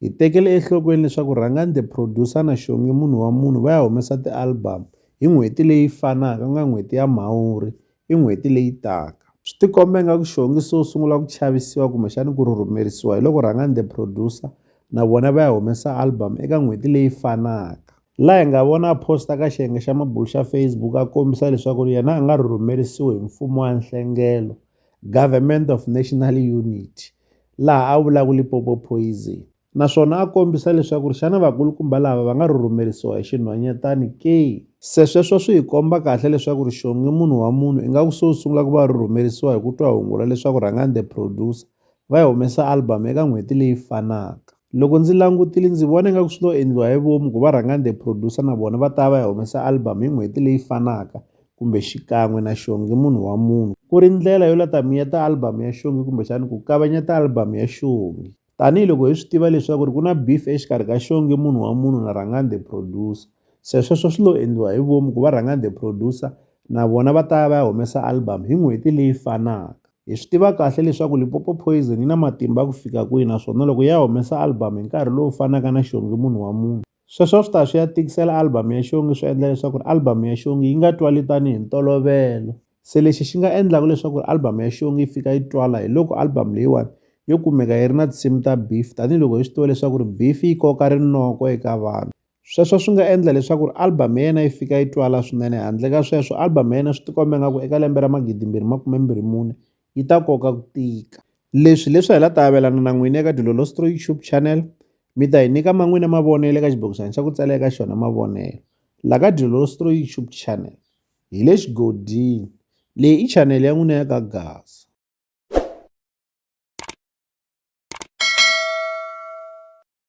Hi tekele enhlokweni leswaku Rhangani the Producer na Shongi Munhu wa Munhu va ya humesa ti-album hi n'hweti leyi fanaka ku nga n'hweti ya Mhawuri i n'hweti leyi taka. Swi tikomba ingaku Shongi se u sungula ku chavisiwa kumbexani ku rhurhumerisiwa hi loko Rhangani the Producer na vona va ya humesa album eka n'hweti leyi fanaka. La hi nga vona a post-a ka xiyenge xa mabulo xa Facebook a kombisa leswaku yena a nga rhurhumerisiwi hi mfumo wa nhlengelo, Government of National Unity, laha a vulaka Limpopo Poison naswona a kombisa leswaku ri xana vakulukumba lava va nga rhurhumerisiwa hi xinhwanyatani ke. Se sweswo swi hi komba kahle leswaku ri Xongi munhu wa munhu ingaku se u sungula ku va rhurhumerisiwa hi ku twa hungula leswaku Rhangani The Producer va yi humesa album eka n'hweti leyi fanaka. Loko ndzi langutile ndzi vona ingaku swi lo endliwa hi vomu ku va rhanga the producer na vona va ta va ya humesa album hi n'hweti leyi fanaka kumbe xikan'we na xongi munhu wa munhu ku ri ndlela yo la ta miyeta album ya xongi kumbexani ku kavanyeta album ya xongi tanihiloko hi swi tiva leswaku ri ku na beef exikarhi ka xongi munhu wa munhu na rhangani the producer se sweswo swi lo endliwa hi vomu ku va rhangani the producer na vona va ta ya va ya humesa album hi n'hweti leyi fanaka. Hi swi tiva kahle leswaku Limpopo Poison yi na matimba ku fika kwihi naswona loko ya humesa album hi nkarhi lowu fanaka na Xongi munhu wa munhu, sweswo a swi ta ya swi ya tikisela album ya Xongi swi endla leswaku ri album ya Xongi yi nga twali tanihi ntolovelo. Se lexi xi nga endlaka leswaku ri album ya Xongi yi fika yi twala hi loko album leyiwani yo kumeka yi ri na tinsimu ta beef tanihiloko hi swi tiva leswaku ri beef yi koka rinoko eka vanhu. Sweswo swi nga endla leswaku ri album ya yena yi fika yi twala swinene handle ka sweswo album ya yena swi tikomba nga ku eka lembe ra magidimbirhi makume mbirhi mune yi ta koka ku tika leswi leswi hi la ta avelana na n'wini eka dilolostro youtube channel mi ta hi nyika ma n'wina mavonelo eka xibokisana xa ku tsala eka xona mavonelo la ka dilolostro youtube channel hi le xigodini leyi i channel ya n'wina ya ka gasa